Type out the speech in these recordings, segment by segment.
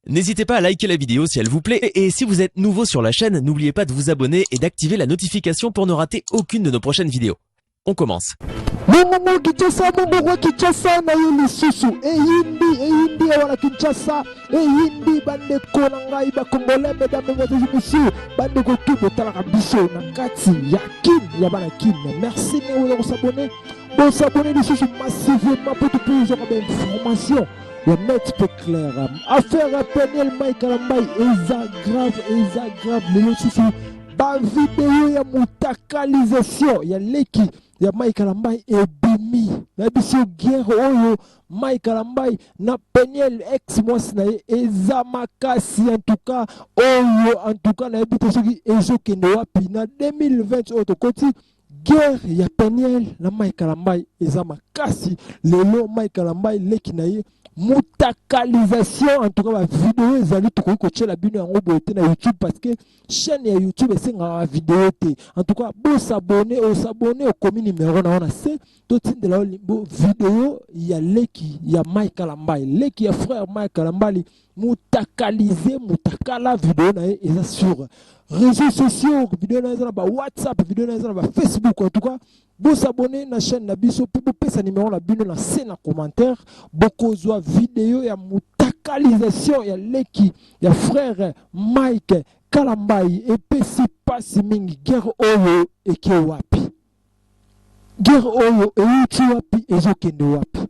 N'hésitez pas à liker la vidéo si elle vous plaît et si vous êtes nouveau sur la chaîne, n'oubliez pas de vous abonner et d'activer la notification pour ne rater aucune de nos prochaines vidéos. On commence. Mungu Kinshasa, Mungu wa Kinshasa na ye lisusu eyindi eyindi awa na Kinshasa eyindi bandeko na ngai bakongole mesdames et messieurs messieurs bandeko tu botalaka biso na kati ya kin ya bana kin merci neoza kosabone bosabone lisusu massivement mpo topezwaka bainformation ya net mpe claire affaire ya peniel mai kalambai eza grave eza grave lelo susu bavideo ya motakalisation ya leki ya mai kalambai ebimi na biso guerre oyo mai kalambai na peniel ex mwasi na ye eza makasi antuka oyo antuka nayebi te soki ezokende wapi na 2020 oyo tokoti oh, Guerre ya Peniel na Mike Kalambay eza makasi lelo Mike Kalambay leki na ye mutakalisation en tout cas ba video ezali tokoki kotyela bino yango boye te na youtube parce que chaîne ya youtube esengaka ba video te en tout cas bosabone osabone okomi numero na yo na se totindela yo video ya leki ya mike kalambali leki ya frère mike kalambali mutakalize mutakala video na ye eza sur réseaux sociaux video na ye eza na ba whatsapp video na ye eza na ba facebook en tout cas bosabone na chaîne na biso mpe bopesa nimero na bino na se na commentaire bokozwa video ya mutakalisation ya leki ya frère mike kalambai epesi mpasi mingi guerre oyo eke wapi guerre oyo euti wapi ezokende wapi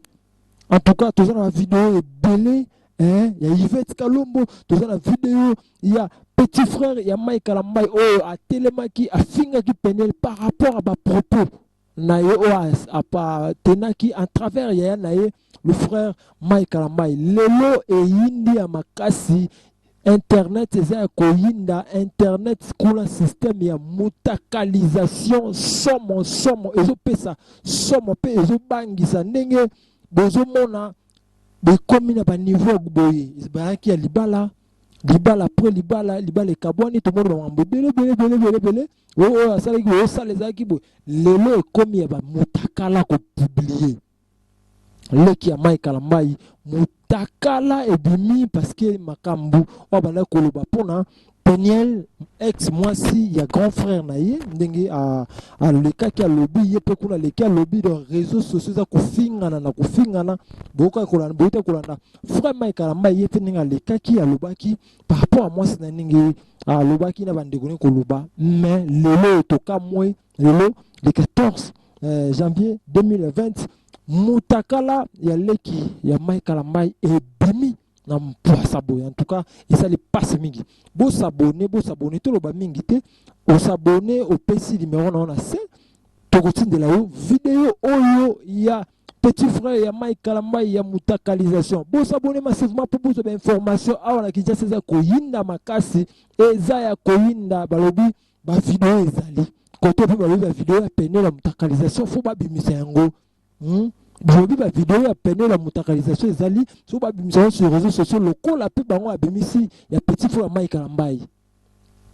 en tout cas toza na video ebele eh, ya yvette kalombo toza na video ya petit frère ya mai kalambai oyo atelemaki afingaki penel par rapport à bapropos na ye oyo atenaki à travers yaya na ye Le frère Mike Kalambayi, lelo eyindi ya makasi internet eza ya koyinda internet kuna système ya mutakalisation somo somo ezopesa somo mpe ezobangisa ndenge bozomona bekomi na baniveau ya boye bayaki ya libala libala pre libala libala ekabwani tomoni bamambo ebele ebele ebele ebele ebele oyo asalaki boye osala ezalaki boye lelo ekomi ya bamutakala kopiblie leki ya Mike Kalambayi mutakala ebimi parce que makambu oyo abandaki koloba pona Peniel ex mwasi ya grand frère na ye ndenge alekaki alobi ye mpe kuna aleki alobi donc réseaux sociaux eza kofingana na kofingana boyokaki kolanda boyokaki kolanda frère Mike Kalambayi ye mpe ndenge alekaki alobaki par rapport ya mwasi na ndenge alobaki na bandeko ndenge koloba mais lelo tokamwe lelo le 14 euh, janvier 2020 mutakala ya leki ya mai kalambai ebimi na mpwasa boye en tout cas esali mpasi mingi bosabone bosabone toloba mingi te osabone opesi limero na yo na se tokotindela yo video oyo ya petit frère ya mai kalambai ya mutakalisation bosabone massivement mpo bozwa bainformation awa na kinshasa eza koyinda makasi eza ya koyinda balobi Ba video ezali kote pe bayebi ba video ya pene la mutakalisation fo babimisa yango hmm? boyebi ba video ya pene la mutakalisation ezali so babimisa yango sur réseaux sociaux lokola pe bango abimisi ya petit fo ya mai kalambai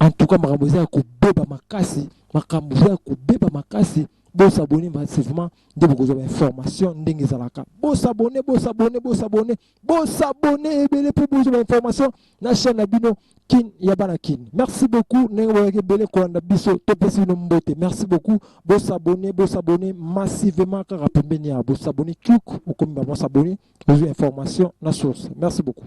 en tout cas makambo eza ya kobeba makasi makambo eza ya kobeba makasi bosabone massivement nde bokozwa bainformation ndenge ezalaka bosabone bosabone bosabone Bon s'abonner ebele pour plus d'informations na chaîne na bino kin ya bana kin merci beaucoup ndenge boyaki ebele kolanda biso topesi bino mbote merci beaucoup bosabone bosabone massivement kaka pembeni ya bosabone cuk okomi bamosabone ozwi information na source merci beaucoup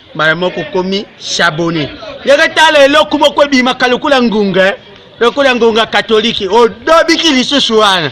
mbala moko okomi shabone ndenge tala eloko moko ebimaka lokola ngunga eh. lokola ngonga katolike odobiki lisusu wana